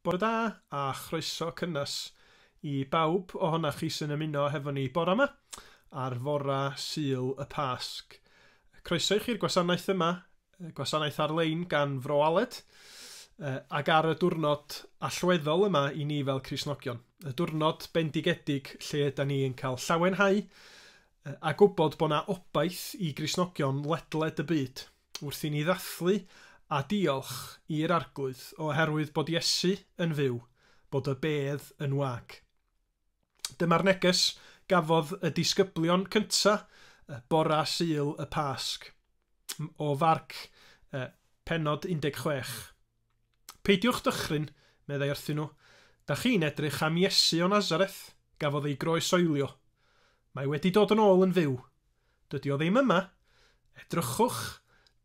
Bore da, a chroeso cynnes i bawb ohonoch chi sy'n ymuno hefo ni bore 'ma, ar fore Sul y Pasg. Croeso i chi'r gwasanaeth yma, gwasanaeth ar-lein gan Fro Aled, ac ar y diwrnod allweddol yma i ni fel Cristnogion, y diwrnod bendigedig lle yda ni yn cael llawenhau a gwybod bod 'na obaith i Gristnogion ledled y byd wrth i ni ddathlu a diolch i'r Arglwydd oherwydd bod Iesu yn fyw, bod y bedd yn wag. Dyma'r neges gafodd y disgyblion cynta' bora' Sul y Pasg, o Farc, pennod 16. Peidiwch dychryn, meddai wrthyn nhw, da chi'n edrych am Iesu o Nazareth, gafodd ei groesoelio. Mae wedi dod yn ôl yn fyw. Dydy o ddim yma. Edrychwch,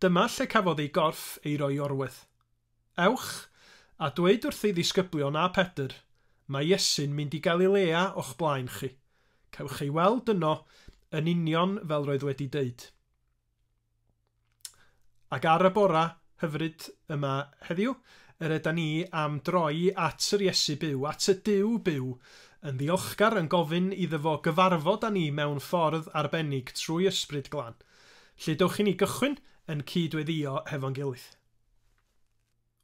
dyma lle cafodd ei gorff ei roi orwedd. Ewch, a dweud wrth ei ddisgyblion a Pedr, mae Iesu'n mynd i Galilea o'ch blaen chi. Cewch ei weld yno yn union fel roedd wedi deud. Ac ar y bora hyfryd yma heddiw, yr yda ni am droi at yr Iesu byw, at y Duw byw, yn ddiolchgar, yn gofyn iddo fo gyfarfod â ni mewn ffordd arbennig trwy Ysbryd Glân. Lle dewch i ni gychwyn yn cyd-weddio hefo'n gilydd?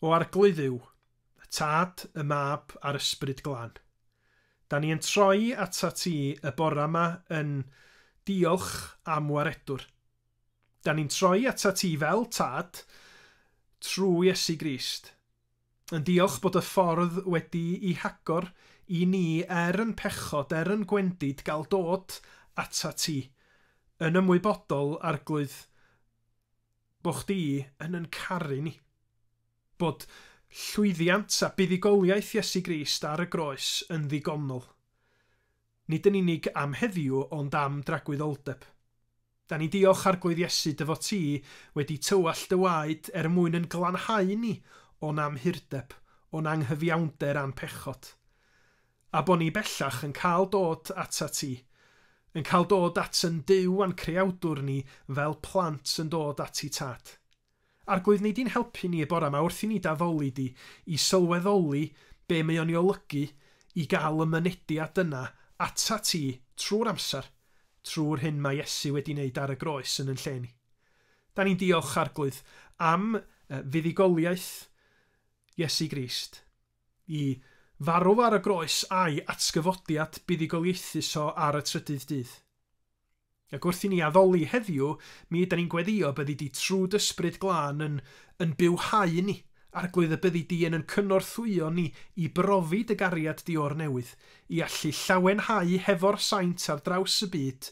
O Arglwydd yw, y Tad, y Mab, a'r Ysbryd Glân. Da ni yn troi ata ti y bora ma yn diolch am waredwr. Da ni'n troi ata ti fel Tad, trw Iesu Grist. Yn diolch bod y ffordd wedi i hagor i ni er yn pechod, er yn gwendid, gal dod ata ti. Yn ymwybodol, Arglwydd, Bod chdi yn yn caru ni. Bod llwyddiant a buddugoliaeth Iesu Grist ar y groes yn ddigonol. Nid yn unig am heddiw ond am dragwyddoldeb. Da ni'n diolch Arglwydd Iesu dy fod ti wedi tywallt dy waed er mwyn yn glanhau ni o'n amhurdeb, o'n anghyfiawnder a'n pechod. A bo' ni bellach yn cael dod atat ti, yn cael dod at yn Duw a'n Creawdwr ni fel plant yn dod ati Tad. Arglwydd, wnei di'n helpu ni y bora 'ma wrth i ni d'addoli di, i sylweddoli be' mae o'n 'i olygu i gael y mynediad yna atat ti trwy'r amser, trwy'r hyn mae Iesu wedi 'neud ar y groes yn yn lle ni. Da ni'n diolch, Arglwydd, am fuddugoliaeth Iesu Grist. Y farw ar y groes a'i atgyfodiad buddugoliaethus o ar y trydydd dydd. Ac wrth i ni addoli heddiw, mi yda ni'n gweddïo byddi di trw d'ysbryd glân yn yn bywhau yn ni, arglwydd y byddi di yn yn cynorthwyo ni i brofi dy gariad di o'r newydd, i allu llawenhau hefo'r saint ar draws y byd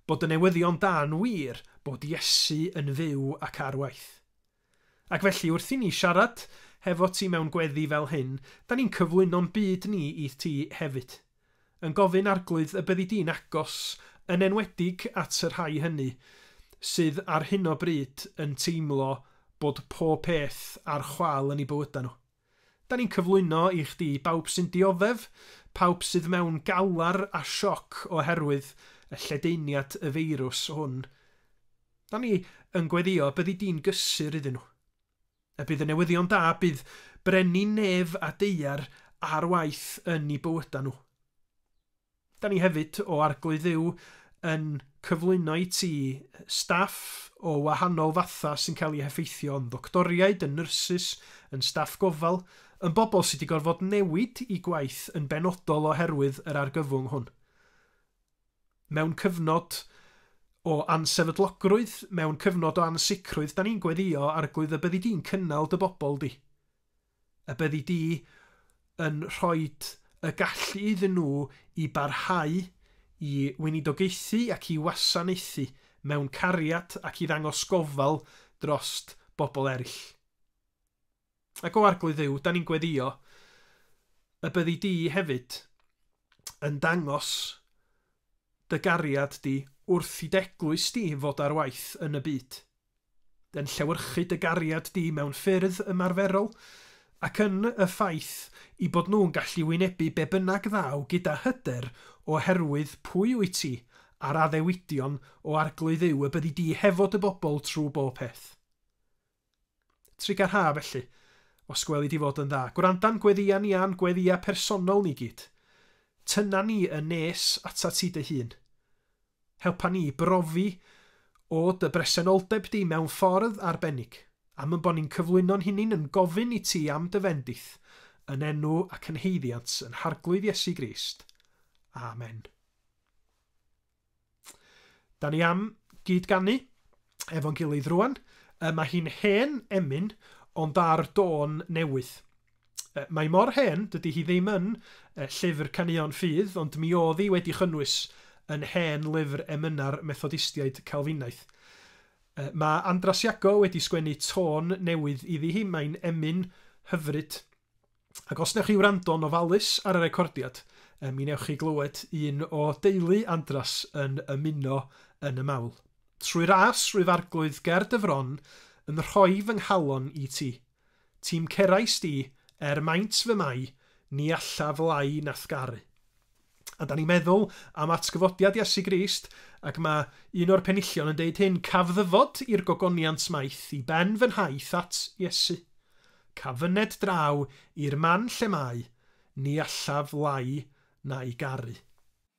bod y newyddion da'n wir bod Iesu yn fyw ac ar waith. Ac felly wrth i ni siarad hefo ti mewn gweddi fel hyn, 'da ni'n cyflwyno'n byd ni i ti hefyd. Yn gofyn, Arglwydd, y byddi di'n agos, yn enwedig at y rhai hynny sydd ar hyn o bryd yn teimlo bod pob peth ar chwâl yn eu bywydau nhw. Da ni'n cyflwyno i chdi bawb sy'n dioddef, pawb sydd mewn galar a sioc oherwydd y lledaeniad y feirws hwn. Da ni yn gweddïo byddi di'n gysur iddyn nhw. A bydd y newyddion da, bydd brenin nef a deuar ar waith yn i bywydau nhw. Da ni hefyd, o Arglwydd Dduw, yn cyflwyno i ti staff o wahanol fathau sy'n cael eu heffeithio, yn ddoctoriaid, yn nyrsys, yn staff gofal, yn bobl sydd wedi gorfod newid eu gwaith yn benodol oherwydd yr argyfwng hwn. Mewn cyfnod o ansefydlogrwydd, mewn cyfnod o ansicrwydd, da ni'n gweddïo, Arglwydd, y byddi di'n cynnal dy bobl di. a byddi di yn rhoi y gallu iddyn nhw i barhau i weinidogaethu ac i wasanaethu mewn cariad ac i ddangos gofal dros bobl eraill. Ac o Arglwydd Dduw, da ni'n gweddïo y byddi di hefyd yn dangos dy gariad di wrth i d'eglwys di fod ar waith yn y byd. yn llewyrchu dy gariad di mewn ffyrdd ymarferol, ac yn y ffaith i bod nhw'n gallu wynebu be bynnag ddaw gyda hyder oherwydd pwy wyt ti a'r addewidion o Arglwydd yw y byddi di hefo dy bobl trwy bob peth. Trigarha felly, os gweli di fod yn dda, gwranda'n gweddïa ni a'n gweddïa personol ni gyd. Tyna ni yn nes atat ti dy hun. Helpa ni i brofi o dy bresenoldeb di mewn ffordd arbennig, am yn bod ni'n cyflwyno'n hunin yn gofyn i ti am dy fendith, yn enw ac yn haeddiant yn Harglwydd Iesu Grist. Amen. Da ni am gyd ganu efo'n gilydd rwan. Mae hi'n hen emyn, ond ar dôn newydd. Uh, mae mor hen, dydy hi ddim yn uh, llyfr caneuon ffydd, ond mi oedd hi wedi chynnwys yn hen lyfr emyna'r Methodistiaid Calfinaidd. Uh, mae Andras Iago wedi sgwennu tôn newydd iddi hi, mae'n emyn hyfryd. Ac os newch chi wrando'n ofalus ar y recordiad, uh, mi newch chi glywed un o deulu Andras yn ymuno yn y mawl. Trwy ras, rwyf arglwydd ger dy fron, yn rhoi fy nghalon i ti. Ti'm cerais di, er maint fy mai, ni allaf lai nath garu. A da ni'n meddwl am atgyfodiad Iesu Grist, ac mae un o'r penillion yn deud hyn, Caf ddyfod i'r gogoniant maith i ben fy nhaith at Iesu. Caf fyned draw i'r man lle mae, ni allaf lai na'i garu.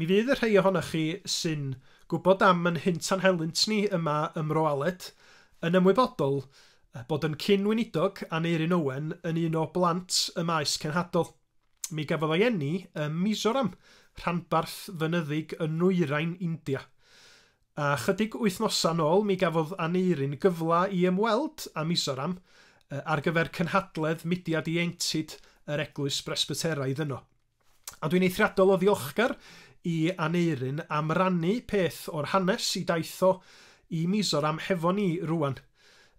Mi fydd y rhai ohonoch chi sy'n gwybod am yn hynt a'n helynt ni yma ym Mro Aled yn ymwybodol bod yn cyn-weinidog Aneurin Owen yn un o blant y maes cenhadol. Mi gafodd ei eni ym Mizoram, rhanbarth fynyddig yn nwyrain India. A chydig wythnosau'n ôl mi gafodd Aneurin gyfle i ymweld â Mizoram ar gyfer cynhadledd mudiad ieuenctid yr Eglwys Bresbyteraidd yno. A dwi'n eithriadol o ddiolchgar i Aneurin am rannu peth o'r hanes i daith o i Mizoram hefo ni rŵan.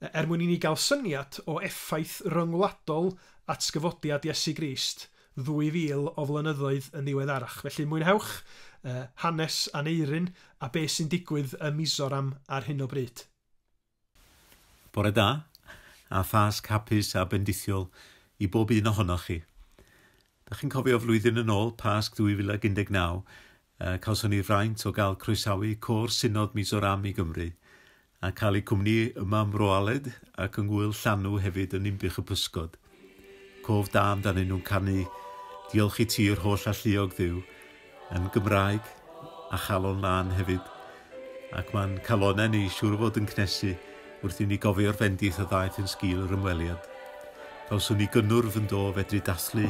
Er mwyn i ni gael syniad o effaith ryngwladol atgyfodiad Iesu Grist 2000 o flynyddoedd yn ddiweddarach. Felly, mwynhewch hanes Aneurin a beth sy'n digwydd ym Mizoram ar hyn o bryd. Bore da, a Phasg hapus a bendithiol i bob un ohonoch chi. Dach chi'n cofio flwyddyn yn ôl, Pasg 2019, Cawson ni'r fraint o gael croesawu Côr Synod Mizoram i Gymru a cael eu cwmni yma ym Mro Aled ac yng Ngŵyl Llanw hefyd yn Ninbych y Pysgod. Cof da amdanyn nhw'n canu 'Diolch i ti yr holl alluog Dduw' yn Gymraeg a 'Chalon Lân' hefyd. Ac mae'n calonnau ni, siŵr o fod yn cnesu wrth i ni gofio'r bendith a ddaeth yn sgil yr ymweliad. Cawson ni gynnwrf yndo o fedru dathlu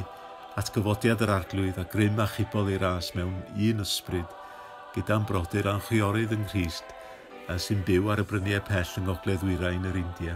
atgyfodiad yr Arglwydd a grym achubol ei ras mewn un ysbryd gyda'n brodyr a'n chwiorydd yng Nghrist sy'n byw ar y bryniau pell yng ngogledd-ddwyrain yr India.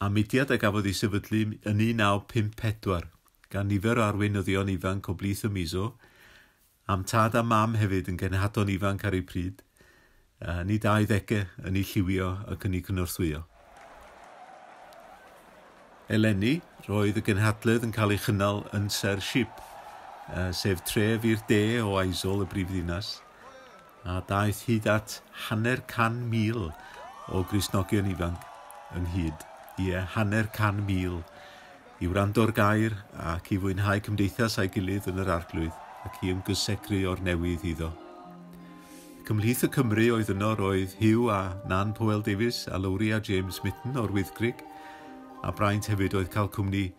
a mudiad a gafodd ei sefydlu yn 1954 gan nifer o arweinyddion ifanc o blith y Mizo, a'm tad a mam hefyd yn genhadon ifanc ar eu pryd, yn eu 20au, yn eu lliwio ac yn eu cynorthwyo. Eleni, roedd y genhadledd yn cael ei chynnal yn Sir Ship, sef tref i'r de o Aizawl, y brifddinas, a daeth hyd at hanner can mil o Gristnogion ifanc ynghyd, ie, hanner can mil, i wrando'r gair ac i fwynhau cymdeithas â'i gilydd yn yr Arglwydd ac i ymgysegru o'r newydd iddo. Cymhlith y Cymry oedd yno roedd Hugh a Nan Powell Davies a Lowri a James Mitten o'r Wyddgrug, a braint hefyd oedd cael cwmni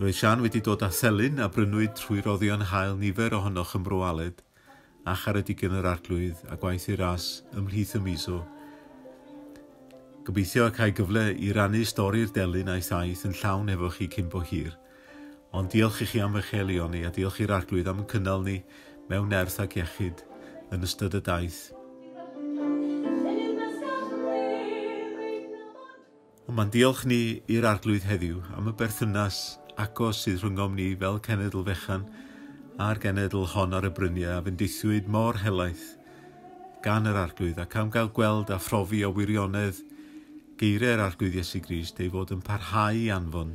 Roedd Siân wedi dod â thelyn a brynwyd trwy roddion hael nifer ohonoch ym Mro Aled a Charedig yn yr Arglwydd a gwaith ei ras ymhlith y miso. Gobeithio y cael gyfle i rannu stori'r delyn a'i thaith yn llawn efo chi cyn bo hir. Ond diolch i chi am eich elioni a diolch i'r Arglwydd am cynnal ni mewn nerth ac iechyd yn ystod y daith. Ond mae'n diolch ni i'r Arglwydd heddiw am y berthynas agos sydd rhyngom ni fel cenedl fechan a'r genedl hon ar y bryniau a fendithiwyd mor helaeth gan yr Arglwydd ac am gael gweld a phrofi o wirionedd geiriau'r Arglwydd Iesu Grist ei fod yn parhau i anfon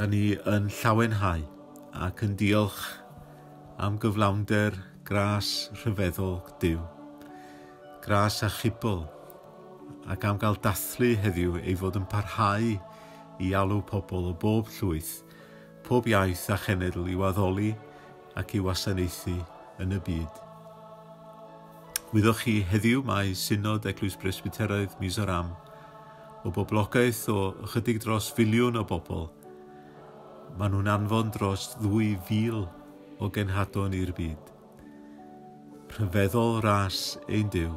Da ni yn llawenhau ac yn diolch am gyflawnder gras rhyfeddol Duw, gras a chibl, ac am gael dathlu heddiw ei fod yn parhau i alw pobl o bob llwyth, pob iaith a chenedl i'w addoli ac i wasanaethu yn y byd. Wyddoch chi, heddiw mae Synod Eglwys Bresbyteraidd Mizoram, o boblogaeth o ychydig dros filiwn o bobl, maen nhw'n anfon dros 2,000 o genhadon i'r byd. Rhyfeddol ras ein Duw.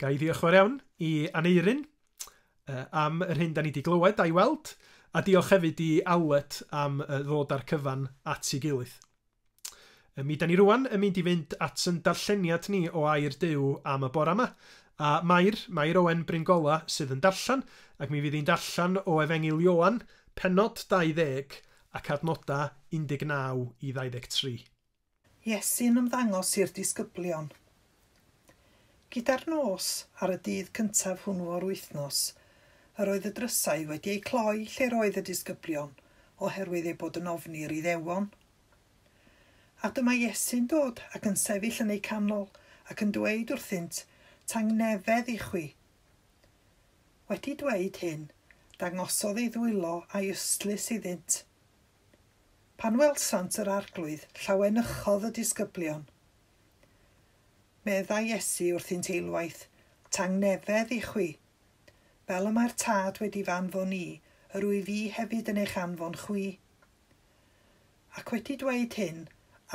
Ga i ddiolch yn fawr iawn i Aneurin am yr hyn da ni wedi glywed a'i weld, a diolch hefyd i Allet am ddod â'r cyfan at ei gilydd. Mi da ni rwan yn mynd i fynd at yn darlleniad ni o Air Duw am y bore yma, a Mair, Mair Owen Bryngola sydd yn darllen, ac mi fydd hi'n darllen o Efengyl Ioan, pennod 20 ac adnodau 19 i 23. Iesu'n ymddangos i'r disgyblion. Gyda'r nos ar y dydd cyntaf hwnnw o'r wythnos, yr oedd y drysau wedi eu cloi lle'r oedd y disgyblion oherwydd eu bod yn ofni i'r Iddewon. A dyma Iesu'n dod ac yn sefyll yn eu canol ac yn dweud wrthynt, Tangnefedd i chwi! Wedi dweud hyn, dangosodd ei ddwylo a'i ystlys iddynt. Pan welsant yr Arglwydd, llawenychodd y disgyblion. Meddai Iesu wrthynt eilwaith, Tangnefedd i chwi! Fel y mae'r Tad wedi f'anfon i, yr wyf i hefyd yn eich anfon chwi. Ac wedi dweud hyn,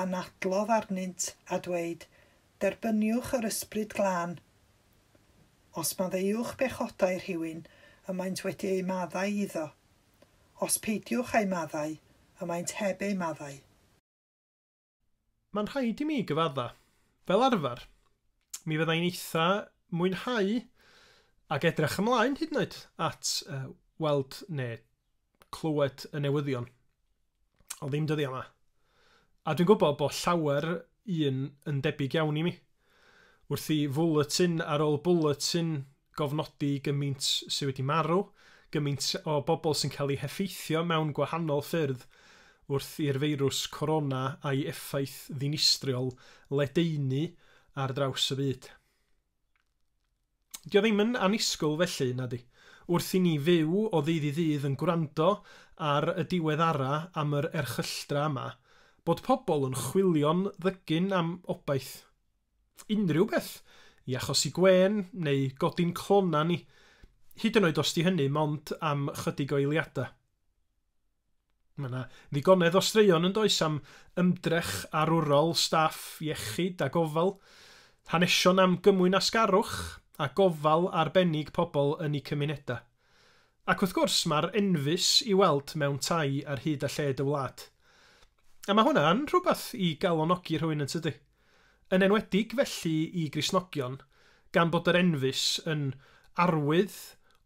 anadlodd arnynt, a dweud, Derbyniwch yr Ysbryd Glân. Os maddeuwch bechodau rhywun, y maent wedi eu maddau iddo. Os peidiwch â'u maddau, y maent heb eu maddau. Mae'n rhaid i mi gyfadda', fel arfer, mi fydda i'n eitha' mwynhau ac edrych ymlaen hyd yn oed at weld neu clywed y newyddion. Ond ddim dyddiau yma. A dwi'n gwybod bod llawer un yn debyg iawn i mi. Wrth i fwletin ar ôl bwletin gofnodi gymaint sydd wedi marw, gymaint o bobl sy'n cael eu heffeithio mewn gwahanol ffyrdd wrth i'r feirws corona a'i effaith ddinistriol ledaenu ar draws y byd. Dio ddim yn annisgwyl felly, na 'di? Wrth i ni fyw o ddydd i ddydd yn gwrando ar y diweddara am yr erchylltra yma, bod pobl yn chwilio'n ddygyn am obaith. Unrhyw beth! I achosi gwên, neu godi'n clona ni. Hyd yn oed os 'di hynny mond am chydig o eiliadau. Mae yna ddigonedd o straeon yn does am ymdrech arwrol staff iechyd a gofal, hanesion am gymwynasgarwch a gofal arbennig pobl yn eu cymunedau. Ac wrth gwrs, mae'r enfys i weld mewn tai ar hyd a lled y wlad. A mae hwnna'n rhywbeth i galonogi rhywun yn tydi? Yn enwedig felly i Gristnogion, gan bod yr enfys yn arwydd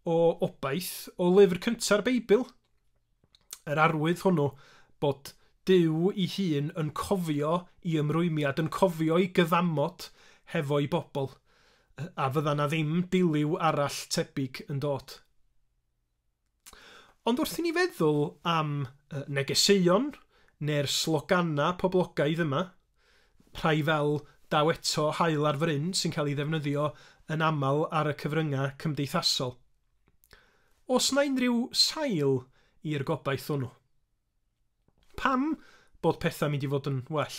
o obaith o lyfr cynta'r Beibl! yr arwydd hwnnw bod Duw ei hun yn cofio i ymrwymiad, yn cofio i gyddamod hefo'i bobl, a fydda na ddim diliw arall tebyg yn dod. Ond wrth i ni feddwl am negeseuon neu'r sloganau poblogaidd yma, rhai fel daw eto haul ar fryn sy'n cael ei ddefnyddio yn aml ar y cyfryngau cymdeithasol, Oes 'na unrhyw sail i'r gobaith hwnnw? Pam bod pethau'n mynd i fod yn well?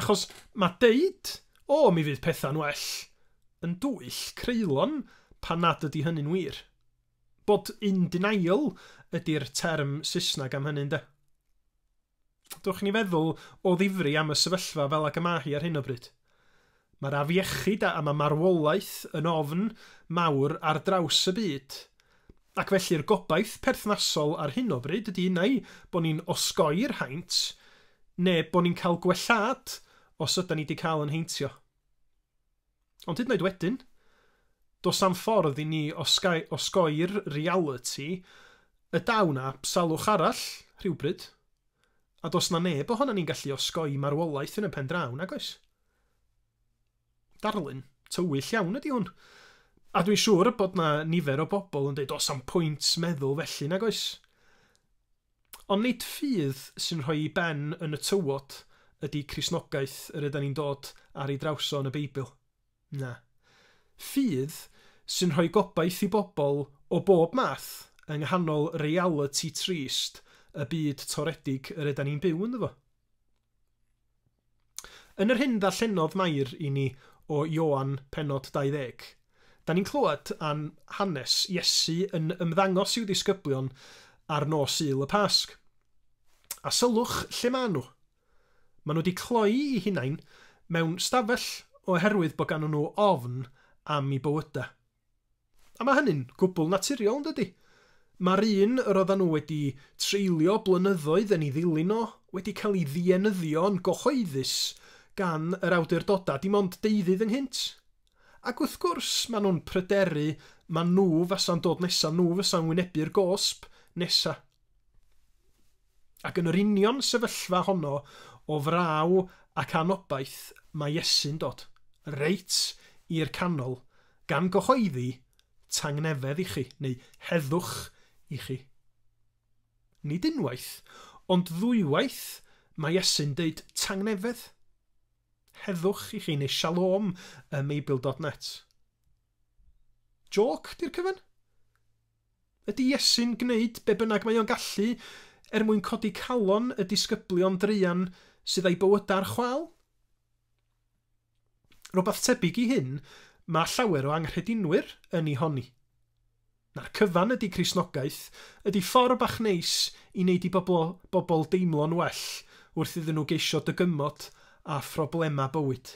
Achos mae deud, 'O, mi fydd pethau'n well', yn dwyll creulon pan nad ydy hynny'n wir. Bod in denial ydy'r term Saesneg am hynny, ynde? Dewch i ni feddwl o ddifri am y sefyllfa fel ag y mae hi ar hyn o bryd. Mae'r afiechyd a mae marwolaeth yn ofn mawr ar draws y byd, ac felly'r gobaith perthnasol ar hyn o bryd ydy neu bod ni'n osgoi'r haint neu bod ni'n cael gwellhad os ydan ni 'di cael yn heintio. Ond hyd yn oed wedyn, does na'm ffordd i ni osgau, osgoi'r realiti y daw 'na salwch arall rhywbryd, a does 'na neb ohonan ni'n gallu osgoi marwolaeth yn y pen draw, nag oes? Darlun tywyll iawn ydi hwn. A dwi'n siŵr bod 'na nifer o bobl yn deud, does 'na'm pwynt meddwl felly, nag oes? Ond nid ffydd sy'n rhoi ei ben yn y tywod ydy Cristnogaeth yr ydan ni'n dod ar ei draws o yn y Beibl. Na. Ffydd sy'n rhoi gobaith i bobl o bob math yng nghanol realiti trist y byd toredig yr ydan ni'n byw ynddo fo. Yn yr hyn ddarllenodd Mair i ni o Ioan pennod 20, da ni'n clywed am hanes Iesu yn ymddangos i'w ddisgyblion ar nos Sul y Pasg. A sylwch lle maen nhw. Maen nhw wedi cloi'u hunain mewn stafell oherwydd bod ganddyn nhw ofn am 'u bywydau. A mae hynny'n gwbl naturiol, yn dydy? Mae'r un yr oeddan nhw wedi treulio blynyddoedd yn ei ddilyn o wedi cael ei ddienyddio yn gyhoeddus gan yr awdurdodau dim ond deuddydd ynghynt. Ac wrth gwrs, maen nhw'n pryderu ma' nhw fasa'n dod nesa, nhw fasa'n wynebu'r gosb nesa. Ac yn yr union sefyllfa honno o fraw ac anobaith mae Iesu'n dod, reit i'r canol, gan gyhoeddi, Tangnefedd i chi, neu Heddwch i chi. Nid unwaith, ond ddwywaith mae Iesu'n deud Tangnefedd, Heddwch i chi, neu Shalom ym Meibil dot net. Jôc, di'r cyfan? Ydy Iesu'n gwneud be bynnag mae o'n gallu er mwyn codi calon y disgyblion druan sydd â'u bywydau ar chwâl? Rhywbeth tebyg i hyn mae llawer o anghredinwyr yn ei honni. Na'r cyfan ydy Cristnogaeth, ydy ffordd bach neis i wneud i bobl bobl deimlo'n well wrth iddyn nhw geisio dygymod â phroblemau bywyd.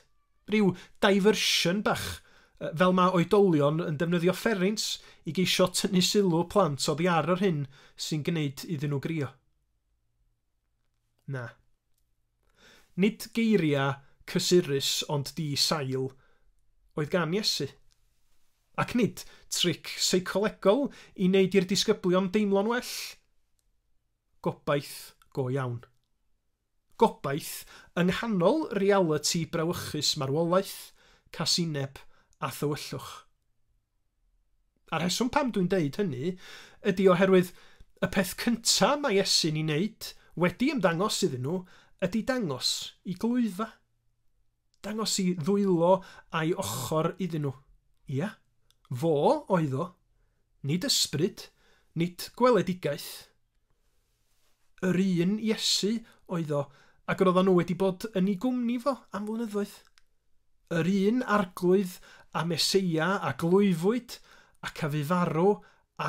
Rhyw diversion bach, fel mae oedolion yn defnyddio fferins i geisio tynnu sylw plant oddi ar yr hyn sy'n gwneud iddyn nhw grio. Na. Nid geiriau cysurus ond di sail oedd gan Iesu. Ac nid tric seicolegol i wneud i'r disgyblion deimlo'n well. Gobaith go iawn. Gobaith, yng nghanol realiti brawychus marwolaeth, casineb a thywyllwch. A'r rheswm pam dwi'n deud hynny ydi oherwydd y peth cynta mae Iesu'n i neud, wedi ymddangos iddyn nhw, ydi dangos i glwyfa. Dangos i ddwylo a'i ochor iddyn nhw. Ia, fo oedd o, nid ysbryd, nid gweledigaeth. Yr un Iesu oedd o, ac roeddan nhw wedi bod yn ei gwmni fo am flynyddoedd. Yr un Arglwydd a Meseia a glwyfwyd ac a fu farw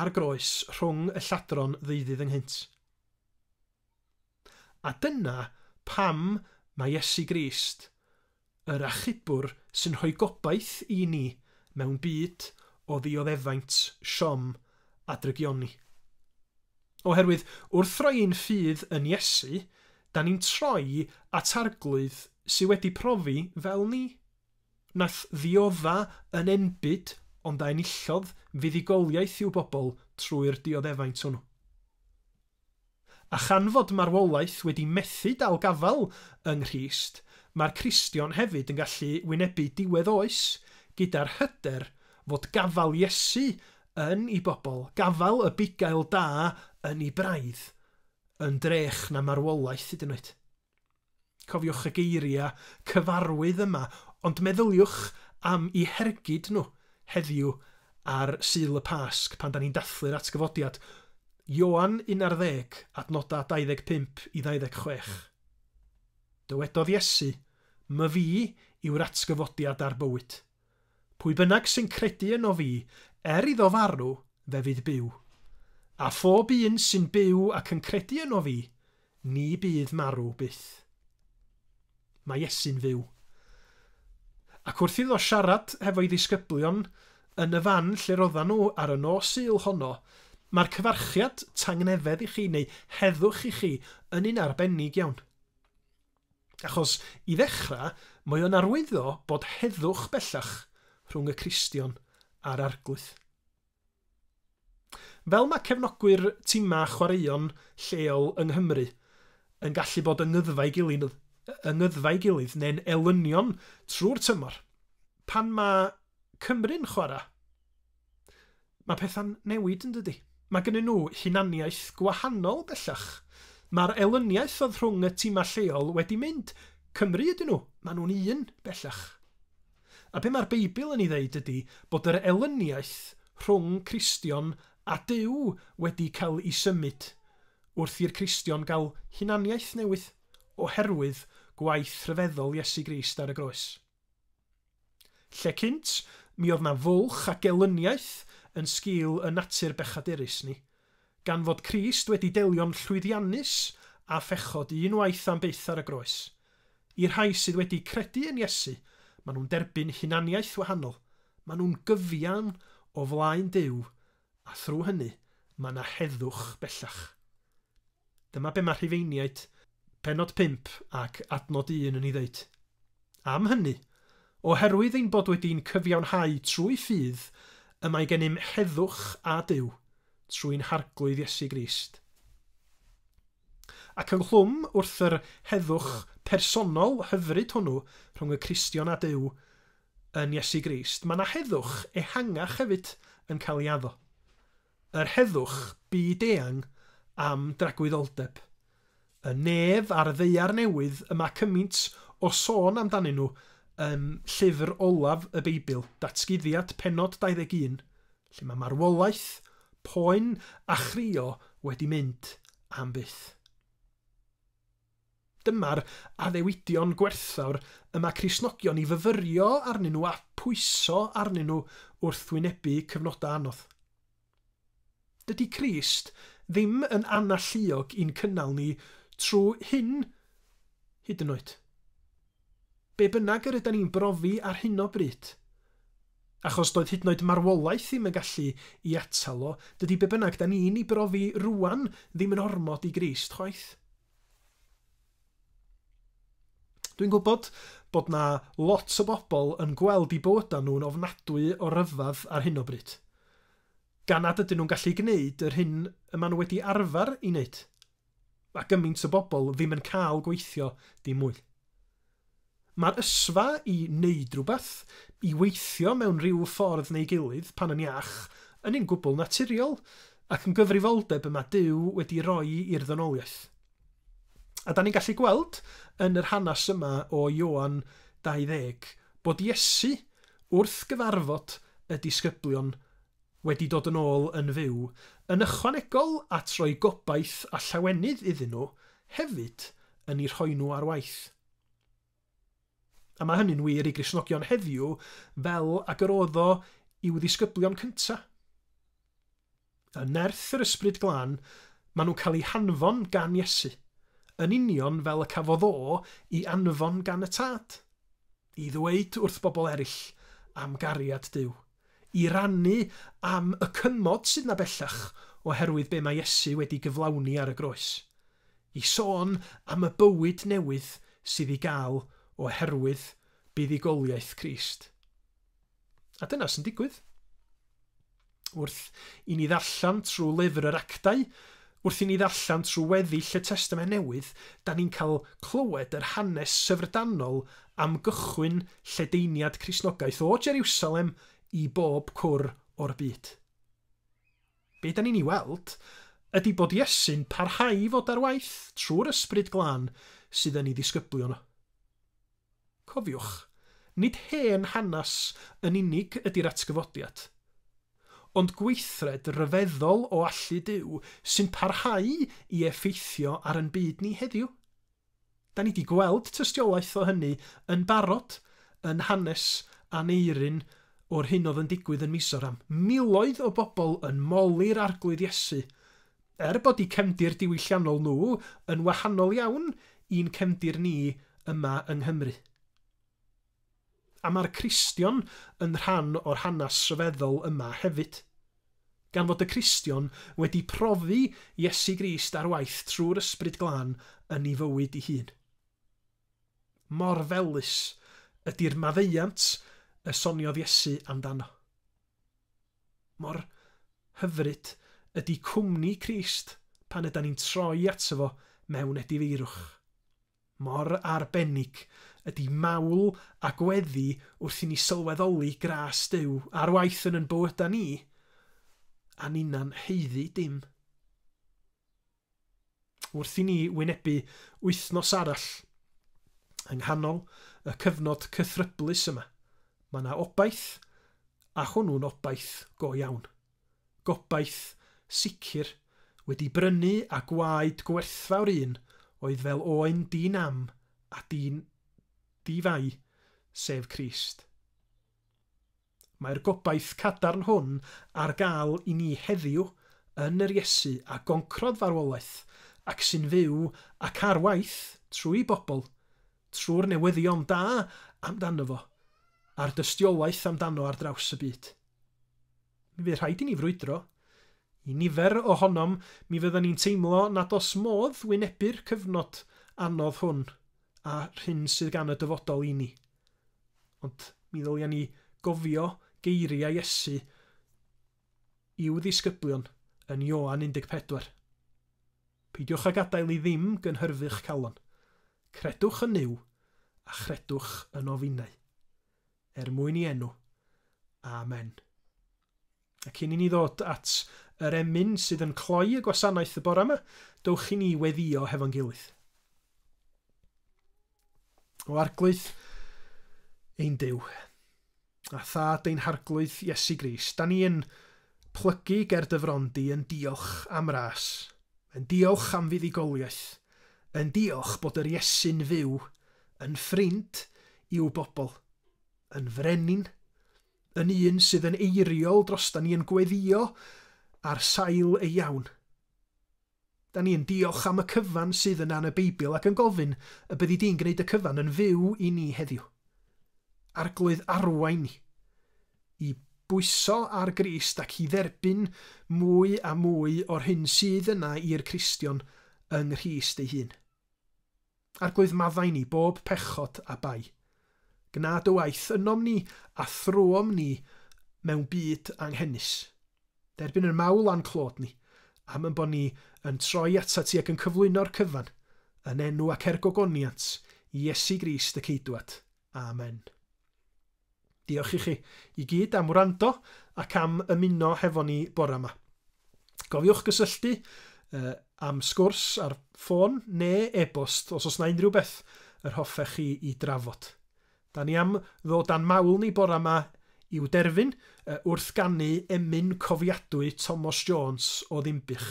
ar groes rhwng y lladron ddeuddydd ynghynt. A dyna pam mae Iesu Grist Yr achubwr sy'n rhoi gobaith i ni mewn byd o ddioddefaint, siom a drygioni. Oherwydd, wrth roi ein ffydd yn Iesu, da ni'n troi at Arglwydd sy wedi profi fel ni, nath ddiodda yn enbyd ond a enillodd fuddugoliaeth i'w bobl trwy'r dioddefaint hwnnw. A chan fod marwolaeth wedi methu dal gafael yng Nghrist, mae'r Cristion hefyd yn gallu wynebu diwedd oes gyda'r hyder fod gafael Iesu yn ei bobl, gafael y bugail da yn ei braidd, yn drech na marwolaeth hyd yn oed. Cofiwch y geiriau cyfarwydd yma, ond meddyliwch am i hergyd nhw heddiw ar Sul y Pasg pan da ni'n dathlu'r atgyfodiad. Ioan 11, adnodau 25 i 26. Dywedodd Iesu, My fi yw'r atgyfodiad a'r bywyd. Pwy bynnag sy'n credu yno fi, er iddo farw, fe fydd byw. A phob un sy'n byw ac yn credu yno fi, ni bydd marw byth. Mae Iesu'n fyw. Ac wrth iddo siarad hefo'i ddisgyblion yn y fan lle roddan nhw ar y nos Sul honno, mae'r cyfarchiad tangnefedd i chi, neu heddwch i chi, yn un arbennig iawn. Achos, i ddechrau, mae o'n arwyddo bod heddwch bellach rhwng y Cristion a'r Arglwydd. Fel mae cefnogwyr timau chwaraeon lleol yng Nghymru yn gallu bod yng ngyddfau gilydd, yng ngyddfau gilydd neu'n elynion trwy'r tymor, pan mae Cymru'n chwarae, Mae pethau'n newid yn dydy? Mae gynnyn nhw hunaniaeth gwahanol bellach. Mae'r elyniaeth oedd rhwng y timau lleol wedi mynd. Cymru ydyn nhw, maen nhw'n un bellach. A be mae'r Beibl yn ei ddeud ydy bod yr elyniaeth rhwng Cristion a Duw wedi cael ei symud wrth i'r Cristion gael hunaniaeth newydd oherwydd gwaith rhyfeddol Iesu Grist ar y groes. Lle cynt, mi oedd 'na fwlch a gelyniaeth yn sgil 'y natur bechaderus ni. Gan fod Crist wedi delio'n llwyddiannus â phechod unwaith am byth ar y groes. I'r rhai sydd wedi credu yn Iesu, maen nhw'n derbyn hunaniaeth wahanol, maen nhw'n gyfiawn o flaen Duw A thrwy hynny, mae yna heddwch bellach. Dyma be mae Rhufeiniaid, pennod 5 ac adnod 1 yn ei ddeud. Am hynny, oherwydd ein bod wedi'n cyfiawnhau trwy ffydd y mae gennym heddwch â Duw, trwy'n Harglwydd Iesu Grist. Ac ynghlwm wrth yr heddwch personol hyfryd hwnnw rhwng y Cristion â Duw, yn Iesu Grist, mae 'na heddwch ehangach hefyd yn cael ei addo, yr heddwch byd-eang am dragwyddoldeb. Y nef a'r ddaear newydd y mae cymint o sôn amdanyn nhw yn llyfr olaf y Beibl, Datguddiad pennod 21, lle mae marwolaeth, poen a chrio wedi mynd am byth. Dyma'r addewidion gwerthfawr y mae Cristnogion i fyfyrio arnyn nhw a phwyso arnyn nhw wrth wynebu cyfnodau anodd. Dydy Crist ddim yn analluog i'n cynnal ni trwy hyn hyd yn oed. Be bynnag yr ydan ni'n brofi ar hyn o bryd, achos doedd hyd yn oed marwolaeth ddim yn gallu i atal o, dydy be bynnag dan ni'n i brofi rŵan ddim yn ormod i Grist chwaith. Dwi'n gwybod bod na lot o bobl yn gweld i bywydau nhw'n ofnadwy o ryfadd ar hyn o bryd, gan nad ydyn nhw'n gallu gwneud yr hyn y ma nhw wedi arfer i wneud. Mae gymaint o bobl ddim yn cael gweithio dim mwy. Mae'r ysfa i wneud rhywbeth, i weithio mewn rhyw ffordd neu gilydd pan yn iach, yn un gwbl naturiol ac yn gyfrifoldeb y mae Duw wedi roi i'r ddynoliaeth. A da ni'n gallu gweld yn yr hanes yma o Ioan 20 bod Iesu wrth gyfarfod y disgyblion wedi dod yn ôl yn fyw, yn ychwanegol at roi gobaith a llawenydd iddyn nhw, hefyd yn eu rhoi nhw ar waith. A mae hynny'n wir i Gristnogion heddiw fel ag yr oedd o i'w ddisgyblion cyntaf. Yn nerth yr Ysbryd Glân, maen nhw'n cael eu hanfon gan Iesu, yn union fel y cafodd o i anfon gan y Tad, i ddweud wrth bobl eraill am gariad Duw. I rannu am y cymod sydd 'na bellach oherwydd be mae Iesu wedi gyflawni ar y groes. I sôn am y bywyd newydd sydd i gael oherwydd buddugoliaeth Crist. A dyna sy'n digwydd. Wrth i ni ddarllen trwy lyfr yr Actau, Wrth i ni ddarllen trwy weddill y Testament Newydd, da ni'n cael clywed yr hanes syfrdanol am gychwyn lledaeniad Cristnogaeth o Jeriwsalem i bob cwr o'r byd. Be da ni'n ei weld ydy bod Iesu'n parhau i fod ar waith trwy'r Ysbryd Glân sydd yn ei ddisgyblion o. Cofiwch, nid hen hanes yn unig ydy'r atgyfodiad, ond gweithred ryfeddol o allu Duw sy'n parhau i effeithio ar yn byd ni heddiw. Da ni 'di gweld tystiolaeth o hynny yn barod yn hanes Aneurin o'r hyn oedd yn digwydd yn Mizoram. Miloedd o bobl yn moli'r Arglwydd Iesu, Er bod eu cefndir diwylliannol nhw yn wahanol iawn i'n cefndir ni yma yng Nghymru. A mae'r Cristion yn rhan o'r hanes rhyfeddol yma hefyd. Gan fod y Cristion wedi profi Iesu Grist ar waith trwy'r Ysbryd Glân yn ei fywyd ei hun. Mor felys ydy'r maddeuant y soniodd Iesu amdano. Mor hyfryd ydy cwmni Crist pan ydan ni'n troi ato fo mewn edifeirwch. Mor arbennig ydy mawl a gweddi wrth i ni sylweddoli gras Duw ar waith yn yn bywyda ni, a ninna'n haeddu dim. Wrth i ni wynebu wythnos arall yng nghanol y cyfnod cythryblus yma, mae 'na obaith, a hwnnw'n obaith go iawn. Gobaith sicr, wedi brynu a gwaed gwerthfawr un oedd fel oen di nam a di fai, sef Crist. Mae'r gobaith cadarn hwn ar gael i ni heddiw yn yr Iesu a goncrodd farwolaeth ac sy'n fyw ac ar waith trwy'i bobl, trwy'r newyddion da amdano fo, a'r dystiolaeth amdano ar draws y byd. Mi fydd rhaid i ni frwydro. I nifer ohonom, mi fyddan ni'n teimlo nad oes modd wynebu'r cyfnod anodd hwn a'r hyn sydd gan y dyfodol i ni. Ond mi ddylia ni gofio geiriau Iesu i'w ddisgyblion yn Ioan 14. Peidiwch a gadael i ddim gynhyrfu'ch calon. Credwch yn Nuw, a chredwch yno finnau. Er mwyn i enw. Amen. A cyn i ni ddod at yr emyn sydd yn cloi y gwasanaeth y bore yma, dowch i ni weddio hefo'n gilydd. O arglwydd ein Duw, a thad ein harglwydd Iesu Gris, da ni yn plygu ger dy fron di yn diolch am ras, yn diolch am fuddugoliaeth, yn diolch bod yr Iesu'n fyw, yn ffrind i'w bobl, yn frenin, yn un sydd yn eiriol drostan ni yn gweddïo ar sail ei iawn. Da ni yn diolch am y cyfan sydd yna yn y Beibl ac yn gofyn y byddi di'n gwneud y cyfan yn fyw i ni heddiw. Arglwydd arwain ni i bwyso ar Grist ac i dderbyn mwy a mwy o'r hyn sydd yna i'r Cristion yng Nghrist ei hun. Arglwydd maddau ni bob pechod a bai. Gna dy waith ynom ni a thrwom ni mewn byd anghenus. Derbyn yr mawl a'n clod ni, am yn bo ni yn troi atat ti ac yn cyflwyno'r cyfan, yn enw ac er gogoniant Iesu Grist y Ceidwad. Amen. Diolch i chi i gyd am wrando ac am ymuno hefo ni bore 'ma. Cofiwch gysylltu am sgwrs ar ffôn ne e-bost os oes 'na unrhyw beth yr hoffech chi i drafod. Da ni am ddod a'n mawl ni bore 'ma i'w derfyn wrth ganu emyn cofiadwy Tomos Jones o Ddinbych.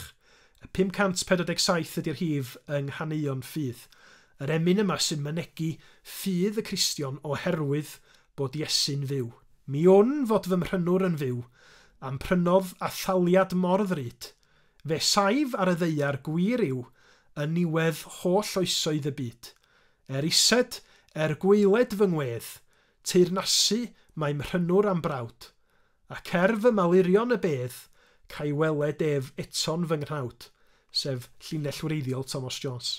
Y 547 ydy'r hif yng nghaneuon ffydd. Yr emyn yma sy'n mynegi ffydd y Cristion oherwydd bod Iesu'n fyw. Mi wn fod fy mhrynwr yn fyw, a'm prynodd â thaliad mor ddrud. Fe saif ar y ddaear gwir yw yn niwedd holl oesoedd y byd. Er ised, er gwaeled fy ngwedd, teyrnasu mae mhrynwr a'm brawd. Ac er fy malurion y bedd, ca'i weled ef eto'n fy nghnawd, sef llinell wreiddiol Tomos Jones.